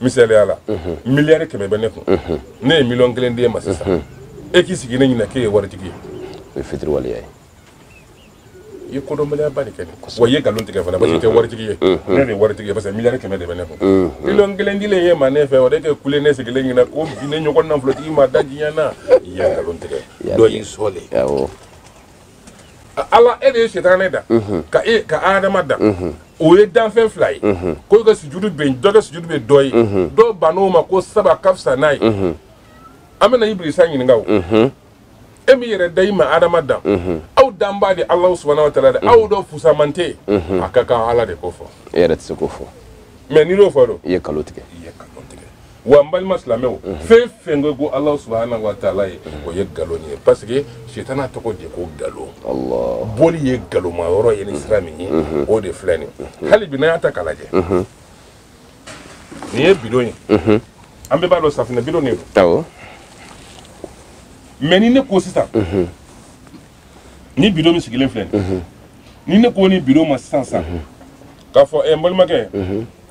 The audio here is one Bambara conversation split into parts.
misaliya la miliyari kɛmɛ bɛ ne kun ne ye miliyɔn kelen d'e ma sisan e k'i sigi ne ɲɛ na k'e ye waritigi ye o ye fitiriwaleya ye i ye kodɔnbaliyaba de kɛ nin wa i ye nkalon tigɛ fana parce que i tɛ waritigi ye ne de ye waritigi ye parce que miliyari kɛmɛ de bɛ ne kun miliyɔn kelen dilen y'e ma ne fɛ o de kɛ kule ne sigilen ɲɛ na ko bi ne ɲɔgɔn nafolotigi ma da diɲɛ na i ye nkalon tigɛ dɔ y'i sɔɔle awɔ ala e de ye sitanɛ da ka e ka adama da o ye danfɛn fila ye ko i ka sujudu bɛ yen dɔ ka sujudu bɛ dɔ ye dɔ bann'o ma ko sabu a ka fisa n'a ye an bɛna ibilisa ɲininka o e m'i yɛrɛ da i ma adama dan aw danbaa de alahu subahana wa taala dɛ aw dɔ fusaman tɛ yen a ka kan ala de k'o fɔ e yɛrɛ tɛ se k'o fɔ mais n'i y'o fɔ don i ye nkalon tigɛ i ye nkalon wa n balima silamɛw fɛn fɛn ko ko alahu subahana wa taala ye o ye nkalon ye parce que sitana tɔgɔ de ko nkalon boli ye nkalonma yɔrɔ ye ni sira min ye o de filɛ nin hali bi n'an y'a ta k'a lajɛ nin ye bidon ye an bɛɛ b'a dɔn safinɛ bidon de don mais ni ne ko sisan nin bidon min sigilen filɛ ni ne ko nin bidon ma sisan san k'a fɔ ɛ n balimakɛ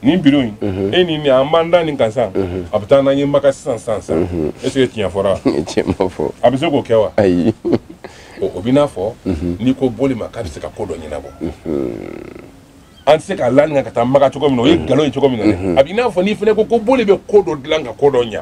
nin bidon in e ni nin an b'an da nin kan san a bɛ taa n'an ye maka sisan san san est ce que tiɲɛ fɔra tiɲɛ ma fɔ a bɛ se k'o kɛ wa ayi o b'i n'a fɔ n'i ko boli ma k'a bɛ se ka ko dɔ ɲɛnabɔ an tɛ se k'an la nin kan ka taa maka cogo min na o ye nkalon ye cogo min na dɛ a bɛ i n'a fɔ n'i fana ko ko boli bɛ ko dɔ dilan ka ko dɔ ɲa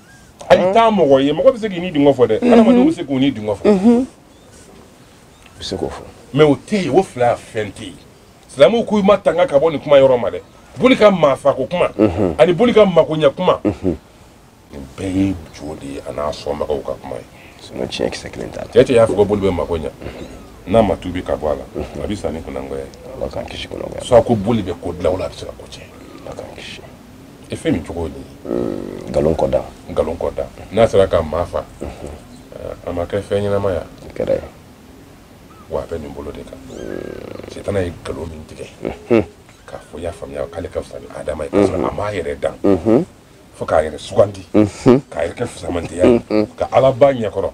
hali taa mɔgɔ ye mɔgɔ bɛ se k'i nidungɔ fɔ dɛ adamadenw bɛ se k'u nidungɔ fɔ bɛ se k'o fɔ mais o tɛ yen o fila fɛn tɛ yen silamɛw k'u matanga ka bɔ nin kuma yɔrɔ ma dɛ boli ka maafako kuma ani boli ka makoɲɛ kuma nin bɛɛ ye jo de ye a n'a sɔnbagaw ka kuma ye tiɲɛ kisɛ kelen t'a la cɛ cɛ y'a fɔ ko boli bɛ makoɲɛ n'a ma tubi ka bɔ a la a bɛ sa ni kunangoya ye ala k'an kisi kunangoya soit ko boli bɛ ko dilan wala a bɛ se ka ko tiɲɛ ala k'an kisi e fɛn min cogo di mm, nkalon kɔdan nkalon kɔdan n'a sera ka maa fa mm-hmm. eh, a ma kɛ fɛn ɲɛnamaya kɛra ye wa a bɛ nin bolo de kan mm. sitana ye nkalon min tigɛ mm-hmm. k'a fɔ y'a faamuya k'ale ka fisa ni adama ye kasɔrɔ a m'a yɛrɛ dan mm-hmm. fo k'a yɛrɛ sugandi k'a yɛrɛ kɛ fisamantiya ye ka ala ba ɲɛkɔrɔ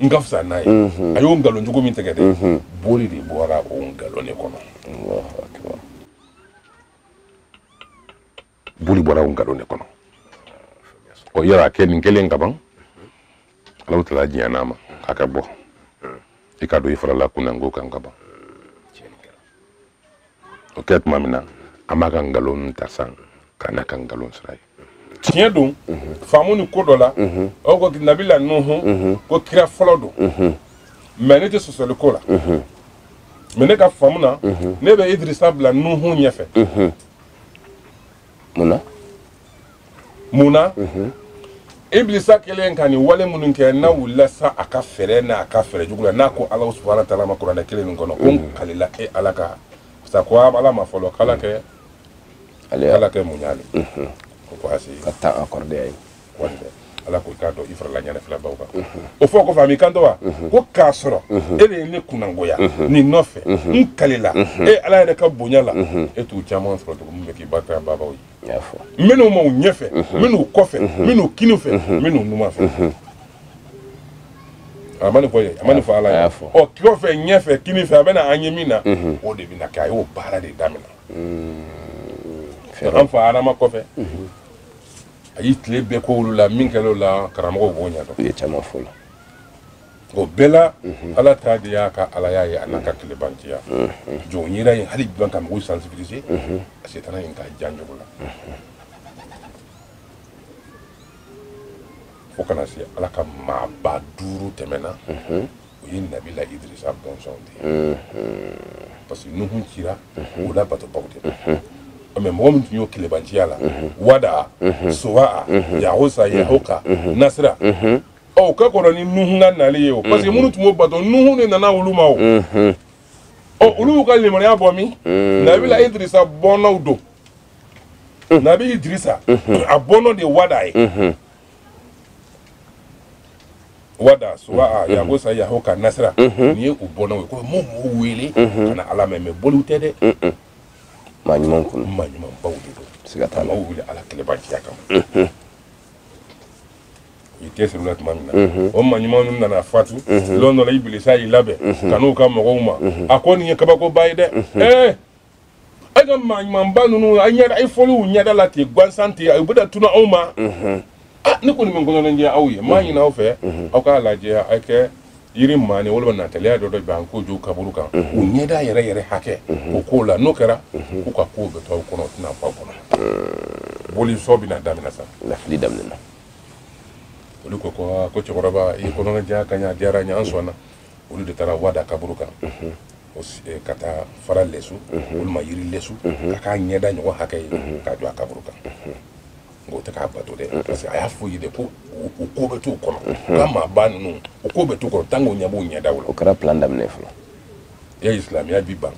n ka fisa n'a ye a y'o nkalon jugu min tigɛ dɛ boli de bɔra o nkalon de kɔnɔ boli bɔra o nkalon de kɔnɔ ɔ yala a kɛnin kɛlen kaban alahu taala diɲɛna a ma k'a ka bɔ i k'a dɔn i farala kunnango kan kaban o kɛ tuma min na a b'a ka nkalon ta san ka n'a ka nkalon sira ye tiɲɛ don faamu ni ko dɔ la o ko nabila nuhu ko kira fɔlɔ don mɛ ne tɛ sɔsɔli k'o la mɛ ne ka faamu na ne bɛ idirisa bila nuhu ɲɛfɛ mun na mun na ibilisa kɛlen ka nin wale minnu kɛ n'a wulila sa a ka fɛɛrɛ n'a ka fɛɛrɛ jugu la n'a ko ala subahana taala ma kuranɛ kelen nin kɔnɔ ko n kalila e ala ka sa ko ala ma fɔlɔ k'ala kɛ ala k'i muɲu ale kɔ ko a si ka taa accordé a ye ala ko i k'a dɔn i farala ɲɛnafilɛbaw kan o fɔ kɔfɛ a m'i kanto wa ko k'a sɔrɔ e de ye ne kunnangoya nin nɔfɛ n kalila e ala yɛrɛ ka bonya la e t'u caman sɔrɔ tugun min bɛ k'i barikadabaw ye n bɛ n'u m'u ɲɛfɛ n bɛ n'u kɔfɛ n bɛ n'u kini fɛ n bɛ n'u numan fɛ a ma nin fɔ ye a ma nin fɔ ala ye ɔ kɔfɛ ɲɛfɛ kini fɛ a bɛna an ye min na o de bɛna kɛ a y'o baara de daminɛ an fa adama kɔfɛ a y'i tile bɛɛ k'olu la min kɛra o la karamɔgɔw b'o ɲɛdɔn u ye caman f'o la o bɛɛ la ala ta de y'a ka alaya ye a n'a ka kelebanciya jɔn yira ye hali jɔn ka mɔgɔw sensibiliser a setana in ka jan jugu la fo ka na se ala ka maaba duuru tɛmɛna o ye nabila idirisa bɔnsɔnw de ye parce que nuhu cira olu batobaw de ma mɛ mɔgɔ min tun y'o kelebanciya la wada sowa yagosa yahoka nasira o ka kɔrɔ ni nuhu ka nali ye o parce que minnu tun b'o bato nuhu de nana olu ma o ɔ olu y'u ka limaniya bɔ min nabila idirisa bɔnnaw don nabi idirisa a bɔnnɔ de wada ye wada suwa a yagosa yahoka nasira nin ye u bɔnnaw ye ko m'u m'u wele ka na ala ma mɛ boliw tɛ dɛ maa ɲumanw kɔnɔ maa ɲumanbaw de don siga t'a la maaw wele ala kelebanciya kama i tɛ siri la tuma min na o maa ɲuman ninnu nana fatu lɔn dɔ la ibilisa y'i labɛn ka n'u ka mɔgɔw ma a ko nin ye kabakoba ye dɛ ee aw ka maa ɲumanba ninnu aw ɲɛ fɔli u ɲɛda la ten gansan ten u bɛna tunun aw ma ah ne kɔni bɛ n kɔnɔnajɛ aw ye n b'a ɲini aw fɛ aw k'a lajɛ aw ka yiri maani walima nataliya dɔ dabɛn k'o jɔ kaburu kan u ɲɛda yɛrɛ yɛrɛ hakɛ o k'o la n'o kɛra k'u ka kow bɛ to aw kɔnɔ o tɛna bɔ aw kɔnɔ boli sɔn bɛna daminɛ sa lafili daminɛna olu ko ko aa, ko cɛkɔrɔba i y'i kɔnɔnajɛ ka ɲɛ a diyara n ye an sɔnna olu de taara wada kaburu kan Eh, ka taa fara lɛsu mhm. walima yiri lɛsu mhm. ka k'a ɲɛda ɲɔgɔn hakɛ ye mhm. k'a jɔ a kaburu kan nk'u tɛ k'a bato dɛ parce que a y'a f'u ye de ko u ko bɛ t'u kɔnɔ ka maaba ninnu u ko bɛ t'u kɔnɔ tant que u ɲɛ b'u ɲɛdaw la o kɛra plan daminɛ fɔlɔ ye silamɛya b'i ban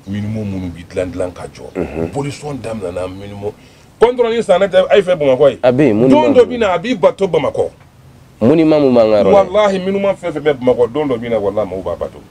monument minnu bi dilan dilan ka jɔ bolisɔn daminɛna monument kɔntɔrɔ ni sanɛ tɛ a y'a filɛ bamakɔ ye a bɛ yen don dɔ bɛ na a bi bato bamakɔ monument min b'an ka yɔrɔ la walahi monument fɛn fɛn bɛ bamakɔ don dɔ bɛ na walahi maaw b'a bato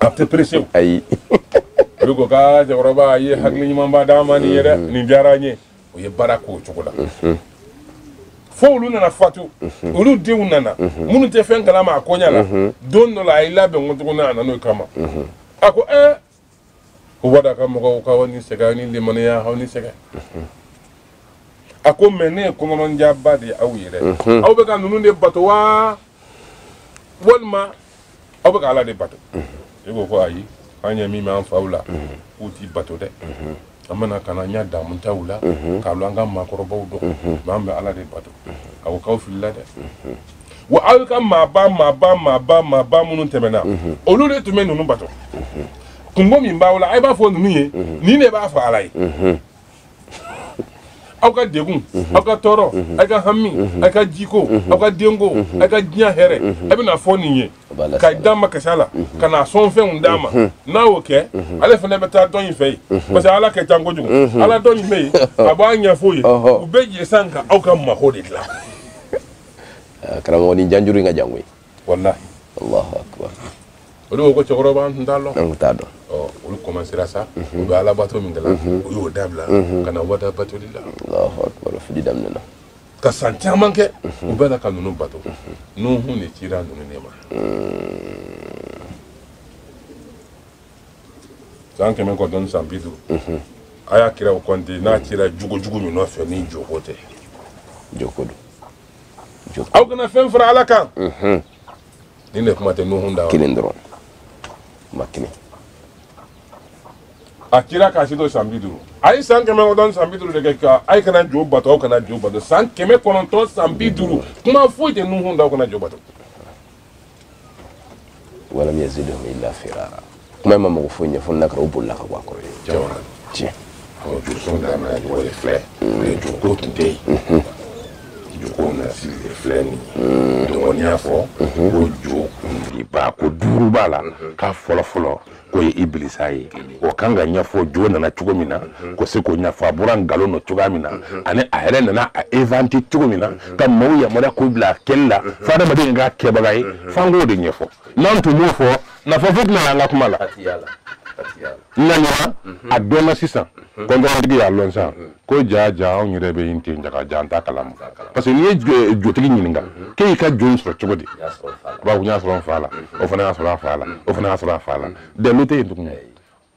a tɛ pressé o ayi olu ko k'a cɛkɔrɔba i ye hakili ɲumanba d'an ma nin ye dɛ nin diyara an ye o ye baara k'o cogo la fo olu nana fatu olu denw nana minnu tɛ fɛn kalama a koɲa la don dɔ la a y'i labɛn ko tuguni a nan'o kama a ko ɛɛ ko wada ka mɔgɔw k'aw ni sɛgɛn aw ni limaniya aw ni sɛgɛn a ko mais ne ye kɔnɔnjaba de ye aw yɛrɛ aw bɛ ka ninnu de bato wa walima aw bɛ ka ala de bato e ko ko ayi an ɲɛ min b'an faw la k'u tɛ bato dɛ an bɛna ka na an y'a damu taw la k'a lɔn an ka maakɔrɔbaw don mais an bɛ ala de bato a ko k'aw filila dɛ wa aw ka maaba maaba maaba maaba minnu tɛmɛna olu de tun bɛ ninnu bato kunko min b'aw la a b'a fɔ ninnu ye nin de b'a fɔ ala ye aw ka degun aw ka tɔɔrɔ aw ka hami aw ka jiko aw ka denko aw ka diɲɛ hɛrɛ a bɛ n'a fɔ nin ye ka damakasi la ka na sɔn fɛnw d'a ma n'aw y'o kɛ ale fana bɛ taa dɔgɔnin fɛ yen parce que ala ka jan kojugu ala dɔgɔnin bɛ yen a b'a ɲɛf'o ye u bɛ jɛ sa ka aw ka mako de dilan karamɔgɔ nin janjuru in ka jan koyi walahi allahu akbar olu ko ko cɛkɔrɔba an tun t'a dɔn an tun t'a dɔn olu commencera sa u bɛ alabato min kɛ la u y'o dabila ka na wada batoli la allahu akbar fili daminɛna ka san caman kɛ u bɛ na ka ninnu bato nuhu de cira ninnu de ma san kɛmɛ kɔnɔntɔn ni san bi duuru a y'a kira o kɔnte n'a cira jugujugu min nɔfɛ ni joko tɛ joko don aw kana fɛn fara ala kan nin de kuma tɛ nuhu da kelen dɔrɔn ma kelen a kira k'a si to san bi duuru a ye san kɛmɛ kɔnɔntɔn san bi duuru de kɛ ko a ye kana jo bato aw kana jo bato san kɛmɛ kɔnɔntɔn san bi duuru kuma foyi tɛ nuhun da aw kana jo bato walam yazidhum illa firara kuma ma mago foyi ɲɛ fo n'a kɛra u bolila ka bɔ a kɔrɔ yen jawara tiɲɛ awɔ josɔn daminɛ cogo de filɛ mais joko tun tɛ yen joko na sigi de filɛ nin ye donc n'i y'a fɔ ko jo kuntigiba ko duuru b'a la k'a fɔlɔ fɔlɔ k'o ye ibilisa ye o kan ka ɲɛfɔ jo nana cogo min na ko se k'o ɲɛfɔ a bɔra nkalon nɔ cogoya min na ani a yɛrɛ nana a inventé cogo min na ka maaw yamaruya k'u bila a kɛli la fo adamaden k'a kɛbaga ye f'an k'o de ɲɛfɔ n'an tun m'o fɔ nafa foyi tɛna an ka kuma la nka ni a dɔnna sisan kɔntɔrɔntigi y'a lɔn sisan ko ja ja anw yɛrɛ bɛ yen ten jaga ja an t'a kalama parce que n'i ye eh, jotigi ɲininka mhm. k'e y'i ka jo in sɔrɔ cogo di a b'a fɔ n y'a sɔrɔ n fa la mhm. o fana y'a sɔrɔ a fa la mhm. o fana y'a sɔrɔ a fa la dalilu tɛ yen tuguni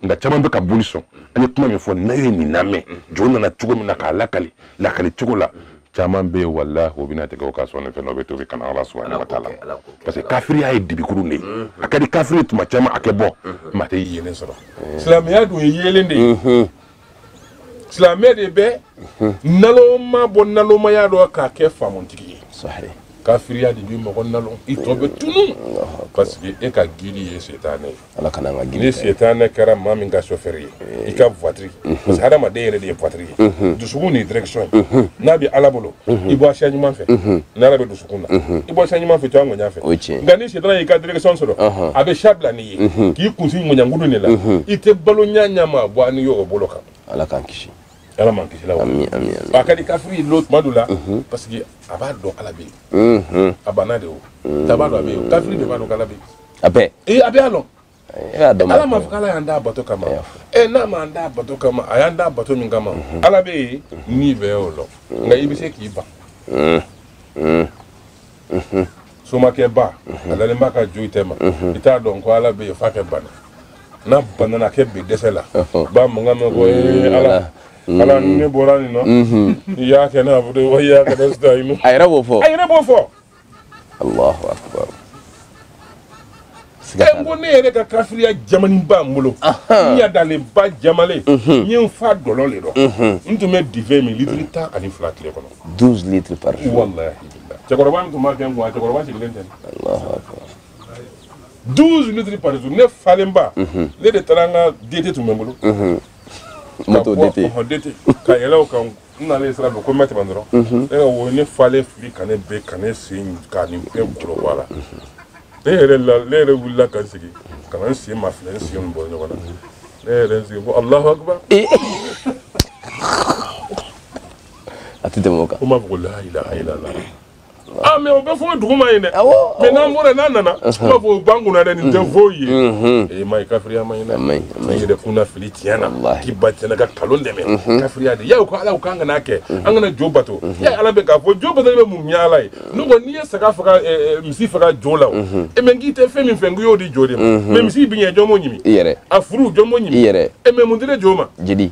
nka caman bɛ ka boli sɔn an ye kuma min fɔ n'a ye nin lamɛn jo nana cogo min na k'a lakali lakali cogo la caman bɛ yen walahi o bɛna tigɛ o ka sɔnni fɛn dɔ bɛ tuubi ka na ala subahana wa taala parce que kafiriya ye dibikuru de ye a ka di kafiri tuma caman a kɛ bɔ maa tɛ yeelen sɔrɔ silamɛya dun ye yeelen de ye silamɛ de bɛ nalonma bɔ nalonmaya dɔ k'a kɛ faamutigi ye kafiriya de bi mɔgɔ nalon i tɔ bɛ tunu parce que e ka guide ye setanɛ ye ala kana ka guide ni setanɛ kɛra maa min ka sofɛri ye i ka voiture parce que hadamaden yɛrɛ de ye voiture ye dusukun ni direction ye n'a bɛ ala bolo i bɛ wa sira ɲuman fɛ n'ala bɛ dusukun na i bɛ wa sira ɲuman fɛ i to a ŋɔɲa fɛ nka ni setanɛ y'i ka direction sɔrɔ a bɛ sira bila n'i ye mhm. k'i kun sin ŋɔɲangudu de la mhm. i tɛ balo ɲɛnama bɔ n'i y'o bolo kan ala k'an kisi ala m'an kisi la wa a ka di kafiri lo tuma dɔ la mhm. parce que a b'a dɔn ala bɛ yen a banna de o t'a b'a dɔn a bɛ yen kafiri de b'a dɔn k'ala bɛ yen a bɛɛ ee a bɛɛ y'a dɔn ala m'a fɔ k'ala y'an d'a bato kama ɛ n'a m'an d'a bato kama a y'an d'a bato min kama ala bɛ yen nin bɛɛ y'o lɔn nka i bɛ se k'i ban somakɛba a dalen b'a ka jo tɛma i t'a dɔn ko ala bɛ yen f'a kɛ bana n'a banana kɛ bi dɛsɛ la b'a mankan mɛn ko ee ala ala ni ne bɔra nin na iyaka naabudu wa iyaka nasitayinu a yɛrɛ b'o fɔ a yɛrɛ b'o fɔ allahu akbar n ko ne yɛrɛ ka kafiriya jamani b'a bolo n yadalen ba jamalen n ye n fa dɔlɔ le dɔ n tun bɛ diwɛn min litiri tan ani fila tile kɔnɔ douze litres par jour walahi cɛkɔrɔba min tun b'a kɛ n kun a cɛkɔrɔba sigilen tɛ douze litres par jour ne falenba ne de taara n ka dete tun bɛ n bolo moto dete ka yɛlɛ o kan n nalen sira fɛ ko n bɛ tɛmɛ dɔrɔn e ka wo ne falen fili ka ne bin ka ne sen ka nin bɛɛ golo bɔ a la ne yɛrɛ la ne yɛrɛ wulila ka n sigi ka na n sen mafilɛ n sen bɔ ɲɔgɔn na ne yɛrɛ n sigi ko allahu akbar a tɛ tɛmɛ o kan ko n b'a fɔ ko la ilaha illallah Ah, mais o bɛ fɔ duguma yen dɛ mais n'an bɔra n'a nana i b'a fɔ o b'an kunna dɛ nin tɛ foyi ye ee ma ye kafiriya man ɲi dɛ i yɛrɛ kunna fili tiɲɛ na k'i ban tiɲɛ na ka kalon dɛmɛ kafiriya de ye aw ko ala k'an kana kɛ an kana jo bato ya ala bɛ k'a fɔ jo bato bɛ mun ɲɛ ala ye ne ko n'i ye saga faga misi faga jo la o e mɛ k'i tɛ fɛn min fɛ n k'i y'o di jo de ma mais misi biɲɛ jɔn b'o ɲimi a furu jɔn b'o ɲimi e mɛ mun di de jo ma jeli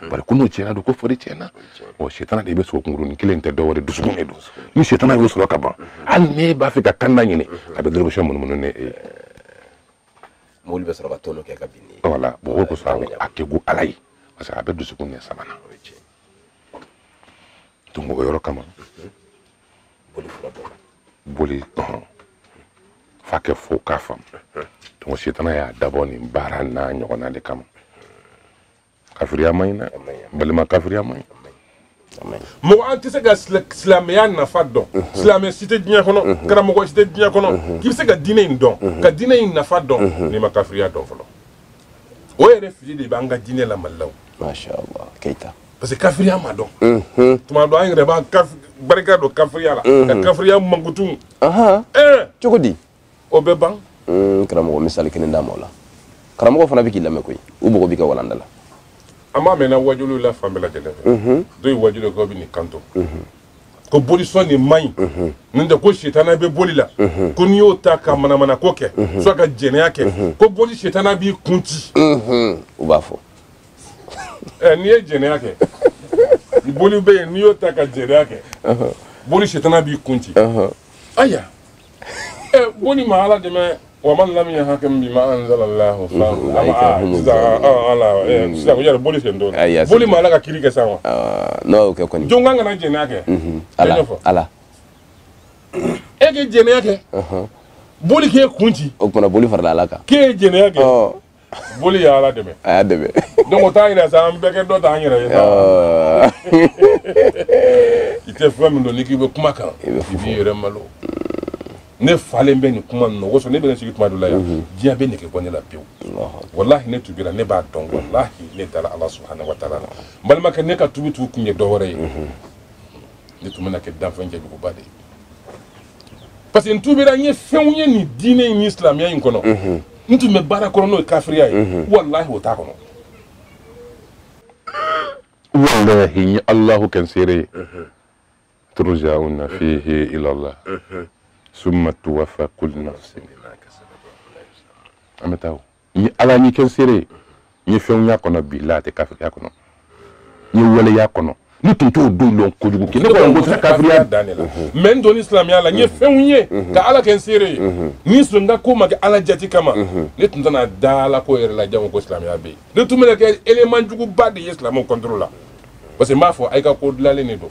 Hmm. bari ko n'o tiɲɛna dɔrɔn ko fari tiɲɛna ɔ sitana de bɛ sogo kunkurunin kelen tɛ dɔwɛrɛ dusukun de don ni sitana y'o sɔrɔ ka ban hmm. hali ne b'a fɛ ka kan da ɲini hmm. a bɛ dɔrɔmɛ munumunu ne ye mobili bɛ sɔrɔ ka tɔnɔ kɛ ka bin ne voilà bon o kosɔn a tɛ ko ala ye parce que a bɛ dusukun ɲɛ saba na donc o yɔrɔ kama boli fura dɔ boli ɔhɔn f'a kɛ fo k'a faamu donc sitana y'a dabɔ nin baara n'a ɲɔgɔnna de kama kafiriya man ɲi dɛ balima kafiriya man ɲi mɔgɔ an tɛ se ka silamɛya nafa dɔn silamɛ si tɛ diɲɛ kɔnɔ karamɔgɔ si tɛ diɲɛ kɔnɔ k'i bɛ se ka diinɛ in dɔn ka diinɛ in nafa dɔn n'i ma kafiriya dɔn fɔlɔ o yɛrɛ fili de b'an ka diinɛ la mali la o masha allah keita parce que kafiriya ma dɔn tuma dɔ an yɛrɛ b'an barika don kafiriya la ka kafiriya mankutu cogo di o bɛ ban hmm, karamɔgɔ misali kelen d'an ma o la karamɔgɔ fana bɛ k'i lamɛn koyi u mɔgɔ b'i ka walanda la an b'a mɛnna wajuluw la fan bɛɛ lajɛlen fɛ mhm. dɔ ye wajulu dɔ bɛ nin kanto mhm. ko bolisɔn nin man ɲi mhm. nin tɛ ko sitana bɛ boli la ko n'i y'o ta ka manamana ko kɛ soit ka jɛnɛya kɛ ko boli sitana b'i kun ci u b'a fɔ ɛ n'i ye jɛnɛya kɛ boli bɛ yen n'i y'o ta ka jɛnɛya kɛ boli sitana b'i kun ci aya eh, boli ma ala dɛmɛ wa man lam yahkum bima anzala allah fa ama sisan ala sisan ko yɛrɛ boli sen don boli ma ala ka kiiri kɛ sa wa n'o tɛ kɔni jɔn k'an kana jɛnɛya kɛ ala ala e k'i jɛnɛya kɛ boli k'e kun ci o tuma boli farala ala kan k'e ye jɛnɛya kɛ boli ye ala dɛmɛ a y'a dɛmɛ donc o t'a yira sa an bɛɛ kɛ dɔ ta an yɛrɛ ye i tɛ fɛn min dɔn n'i k'i bɛ kuma a kan i b'i yɛrɛ malo ne falen bɛ nin kuma ninnu o kosɔn ne bɛ ne sigi tuma dɔ la yan diɲɛ bɛ nege bɔ ne la pewu walahi ne tubira ne b'a dɔn walahi ne dara ala subahana wa taala la n balimakɛ ne ka tubi kun tun ye dɔ wɛrɛ ye ne tun bɛna kɛ danfɛn cɛjuguba de ye parce que n tubira n ye fɛnw ye nin diinɛ in ni silamɛya in kɔnɔ n tun bɛ baara kɔnɔ n'o ye kafiriya ye walahi o t'a kɔnɔ walahi n ye alahu kɛ n seere ye turjauna fihi ilallah summa tuwaffa kullu nafsin an bɛ taa o n ye ala ɲɛ kɛ n seere ye n ye fɛnw y'a kɔnɔ bilahi tɛ kafiriya kɔnɔ n ye waleya kɔnɔ ne tun t'o dɔ lɔn kojugu kɛ ne kɔni ko tɛ kafiriya dan de la mais n donni silamɛya la n ye fɛnw ye ka ala kɛ n seere ye ni silamɛya ko ma kɛ ala jati kama ne tun tɛna da ala ko yɛrɛ la jango ko silamɛya bɛ yen ne tun bɛna kɛ élément juguba de ye silamɛw contre la parce que n b'a fɔ a y'i ka ko dilanlen de don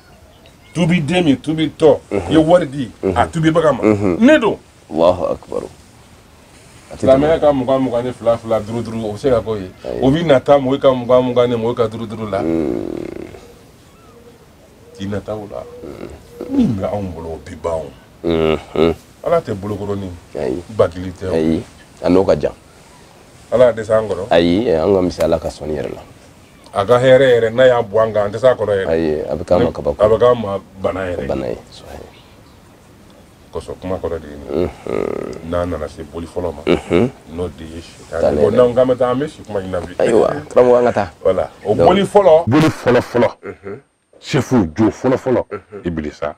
tubi den min tubi tɔ ye wari di a tubibaga ma ne don alahu akubaru a tɛ tɛmɛ silamɛya ka mugan mugan ni fila fila duuru duuru o bɛ se ka k'o ye o bɛ nata mɔgɔ ka mugan mugan ni mɔgɔ ka duuru duuru la k'i nata o la min bɛ anw bolo o bi ban o Mhm. ala tɛ bolokɔrɔni ayi bakili tɛ o ayi a n'o ka jan ala y'a dɛsɛ an kɔrɔ ayi eh, an ka misaliya ka sɔnni yɛrɛ la a ka hɛrɛ yɛrɛ n'a y'a bɔn an kan an tɛ s'a kɔrɔ yɛrɛ ayi a bɛ k'an ma kabako a bɛ k'an ma bana yɛrɛ bana ye kosɔn kuma kɔrɔ de ye nin n'an nana se boli fɔlɔ ma n'o de ye sitani bon n'an k'an bɛ taa an bɛ si kuma nin na bi ayiwa karamɔgɔ an ka taa voilà o boli fɔlɔ boli fɔlɔ fɔlɔ sɛfu jo fɔlɔfɔlɔ ibilisa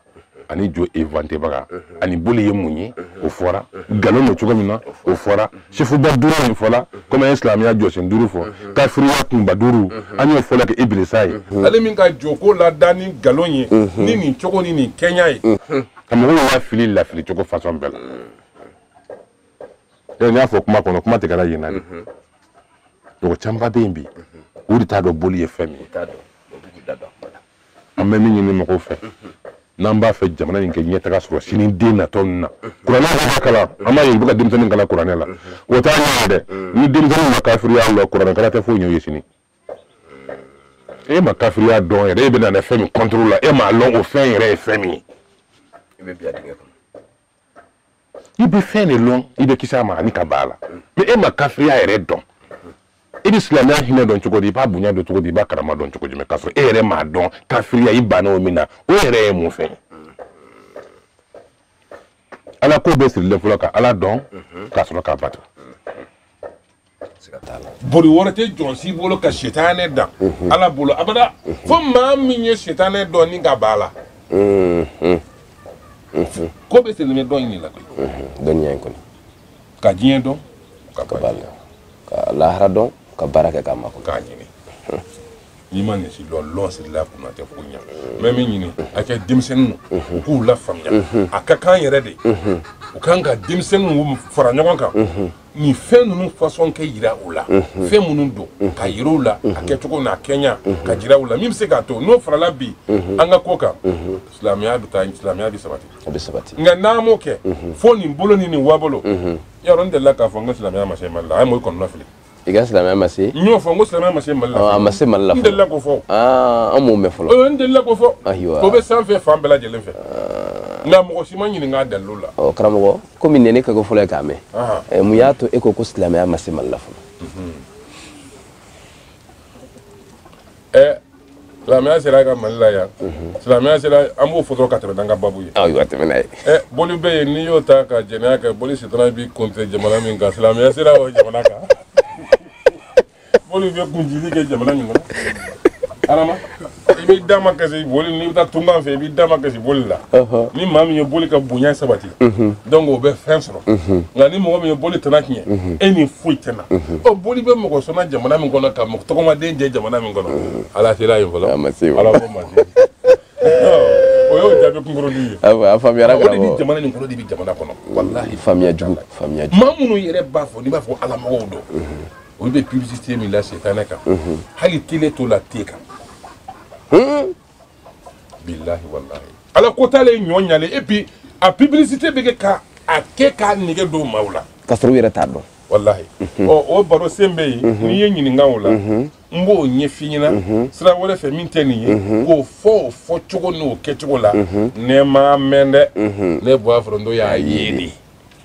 ani jo inventébaga ani boli ye mun ye o fɔra nkalon don cogo min na o fɔra sɛfuba duuru min fɔla komi an ye silamɛya jɔsen duuru fɔ kafiriya kunba duuru an y'o fɔlɔ kɛ ibilisa ye ale min ka joko lada ni nkalon ye ni nin cogo ni nin kɛɲa ye ka mɔgɔw lafili lafili cogo fasɔn bɛɛ la n y'a fɔ kuma kɔnɔ kuma tigɛra yen na de mɔgɔ camanba bɛ yen bi u de t'a dɔn boli ye fɛn min ye an bɛ min ɲini mɔgɔw fɛ n'an b'a fɛ jamana in ka ɲɛtaga sɔrɔ sini den natɔ ninnu na kuranɛ yɛrɛ ka kalan an b'a ye u bɛ ka denmisɛnnin kalan kuranɛ la o t'a ɲɛ dɛ ni denmisɛnnin ma kafiriya lɔn kuranɛ kalan tɛ foyi ɲɛ u ye sini e ma kafiriya dɔn yɛrɛ e bɛ na ni fɛn min contre la e m'a lɔn o fɛn yɛrɛ ye fɛn min ye i bɛ fɛn de lɔn i bɛ kisi a ma ani ka ban a la mais e ma kafiriya yɛrɛ dɔn i bɛ silamɛya hinɛ dɔn cogo di i b'a bonya dɔn cogo di i b'a karama dɔn cogo di mais k'a sɔrɔ e yɛrɛ m'a dɔn kafiriya i banna o min na o yɛrɛ ye mun fɛn ye ala ko bɛ sirilen fɔlɔ ka ala dɔn ka sɔrɔ k'a bato boli wɛrɛ tɛ jɔnsi bolo ka sitanɛ dan ala bolo abada fo maa min ye sitanɛ dɔn ni ka ban a la ko bɛɛ sirilen dɔn in de la koyi dɔnniya in kɔnɔ ka diɲɛ dɔn ka ban a la ka lahara dɔn ka baara kɛ k'a mako k'a ɲini n'i ma nin si lɔn lɔn sirila kunna tɛ ko ɲɛ n bɛ min ɲini a fɛ denmisɛnninw u k'u lafaamuya a ka kan yɛrɛ de u kan ka denmisɛnninw fara ɲɔgɔn kan nin fɛn ninnu fasɔn kɛ yira u la mhm. fɛn minnu don mhm. ka yira u la a mhm. kɛcogo n'a kɛɲa ka jira u la min bɛ se k'a to n'o farala bi an ka ko kan silamɛya bɛ taa silamɛya bɛ sabati a bɛ sabati nka n'an m'o kɛ fo nin bolo ni nin wabolo yɔrɔ n delila k'a fɔ n ko silamɛya ma se mali la a ye mɔgɔ kɔnɔna fili i ko silamɛya ma se n y'o fɔ n ko silamɛya ma se mali la a ma se mali la n delila k'o fɔ an m'o mɛn fɔlɔ n delila k'o fɔ o bɛ sanfɛ fan bɛɛ lajɛlen fɛ nka mɔgɔ si ma n ɲininka a dalilu la karamɔgɔ komi nin ye ne kɛko fɔlɔ ye k'a mɛn mun y'a to e ko ko silamɛya ma se mali la fɔlɔ eh, silamɛya sera ka mali la yan mhm. silamɛya sera an b'o fɔ dɔrɔn ka tɛmɛ n'an ka babu ye ayiwa tɛmɛ n'a ye eh, boli bɛ yen n'i y'o ta ka jɛnɛya kɛ boli sitana b'i kɔnte jamana min kan silamɛya sera o jamana kan Boli bɛ kun jili kɛ jamana min kɔnɔ adama i b'i da ma kasi boli n'i bɛ taa tunkan fɛ i b'i da ma kasi boli la ni maa min ye boli ka bonya sabati donc o bɛ fɛn sɔrɔ nka ni mɔgɔ min ye boli tana tiɲɛ e ni foyi tɛna ɔ boli bɛ mɔgɔ sɔnna jamana min kɔnɔ ka mɔgɔ tɔgɔmaden jɛ jamana min kɔnɔ ala sera yen fɔlɔ ala ko ma se o y'o jaabi kunkuruni ye a faamuyara o de bɛ jamana nin kɔnɔ de bɛ jamana kɔnɔ walahi faamuya jugu faamuya jugu maa minnu yɛrɛ b'a fɔ n'i b'a fɔ ala mɔgɔw don olu bɛ publicité min la setanɛ kan hali tele t'o la te kan bilahi walahi ala ko t'ale ye ɲɔ ɲalen et puis a publicité bɛ kɛ ka a kɛ k'a nege don maaw la k'a sɔrɔ u yɛrɛ t'a dɔn walahi ɔ o baro sen bɛ yen n'i ye n ɲininka o la n b'o ɲɛf'i ɲɛna sira wɛrɛ fɛ min tɛ nin ye k'o fɔ o fɔcogo n'o kɛcogo la ne m'a mɛn dɛ ne buwa foronto y'a ye de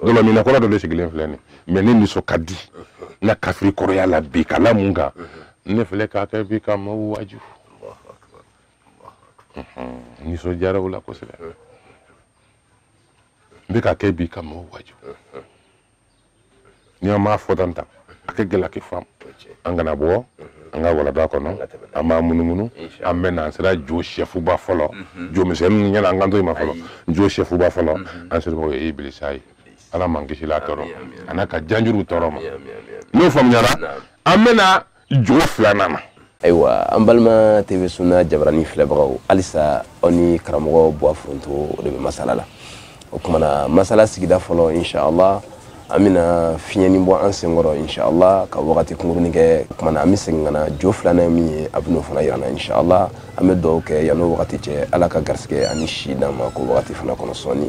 dɔlɔminna kɔrɔ dɔ de sigilen filɛ nin mais ne nisɔn ka di n ka kafiri kɔrɔya la bi k'a la mun kan ne filɛ k'a kɛ bi ka maaw waaju nisɔndiyara o la kosɛbɛ n bɛ k'a kɛ bi ka maaw waaju ni an m'a fɔ tan tan a ka gɛlɛn k'i faamu an kana bɔ an ka walada kɔnɔ an b'a munumunu an bɛ na an sera jo sɛfuba fɔlɔ jo misɛnninw ɲɛna an kan to i ma fɔlɔ jo sɛfuba fɔlɔ an sera o ye ibilisa ye ala m'an kisila tɔɔrɔ a n'a ka janjuruw tɔɔrɔ ma n'o faamuyara an bɛ na jo filanan na ayiwa an balima tv suna jabarani filɛbagaw halisa aw ni karamɔgɔ buwa foronto o de bɛ masala la o kumana masala sigida fɔlɔ inshallah an bɛna fiɲɛni bɔ an senkɔrɔ inshallah ka wagati kunkurunin kɛ o kumana an bɛ segin ka na jo filanan min ye a bɛn'o fana yir'an na inshallah an bɛ dugawu kɛ yan'o wagati cɛ ala ka garisigɛ ani si d'an ma k'o wagati fana kɔnɔ sɔɔni